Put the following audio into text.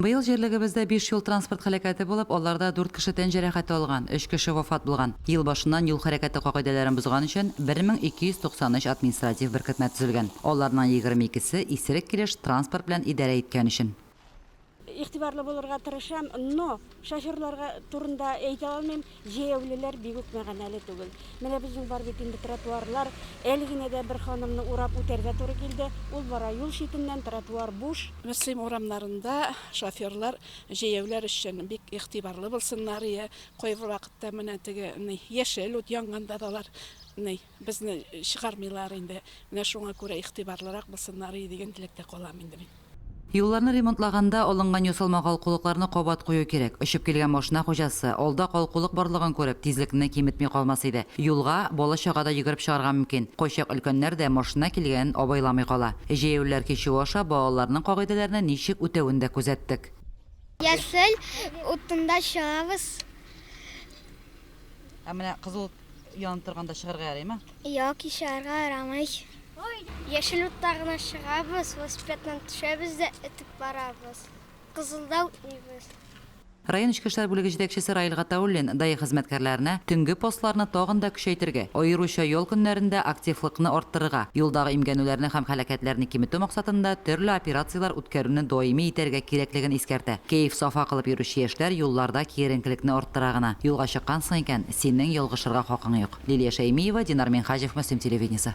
Быел җирлегебездә биш юл-транспорт һәлакәте булып, аларда дүрт кеше тән җәрәхәте алган, өч кеше вафат булган. Ел башыннан юл хәрәкәте кагыйдәләрен бозган өчен 1293 административ беркетмә төзелгән. Аларның егерме икесе, исерек килеш транспорт белән идарә иткән өчен. Игътибарлы булырга тырышам, но шоферларга турында әйтә алмыйм. Җәяүлеләр бик үк мәгәнәле түгел. Менә безнең бар бит инде тротуарлар. Әле генә дә бер ханымны урап үтәргә туры килде. Ул бара юл читеннән, тротуар буш. Мөслим урамнарында шоферлар җәяүләр өчен бик игътибарлы булсыннар, йә кайбер вакытта менә теге ни яшел ут янганда да алар ни. Безне чыгармыйлар инде, менә шуңа күрә игътибарлырак булсыннарыи дигән теләктә калам инде мин. Юлларны ремонтлаганда алынган ясалма калкулыкларны кабат кую кирәк. Очып килгән машина хуҗасы, алда калкулык барлыгын күреп, тизлекне киметми калмас иде. Юлга бала-чага да йөгереп чыгарга мөмкин. Кайчак өлкәннәр дә машина килгәнен абайламый кала. Җәяүлеләр кичүе аша балаларның кагыйдәләрне ничек үтәвен дә күзәттек. Яшел утында чыгабыз. Ә менә кызыл янып торганда чыгарга ярыймы? Юк, чыгарга ярамый. Яшел утта гына чыгабыз, велосипедтан төшәбез дә этеп барабыз. Кызылда үтмибез. Район эчке эшләр бүлеге җитәкчесе Раил Гатауллин ДАИ хезмәткәрләренә төнге постларны тагын да көчәйтергә, аеруча ял көннәрендә активлыкны арттырырга, юлдагы имгәнүләрне һәм һәлакәтләрне киметү максатында төрле операцияләр үткәрүне даими итәргә кирәклеген искәртә. Кәеф-сафа кылып йөрүче яшьләр юлларда киеренкелекне арттыра гына. Юлга чыккансың икән, синең ялгышырга хакың юк. Лилия Шәймиева, Динар Минһаҗев, Мөслим телевидениесе.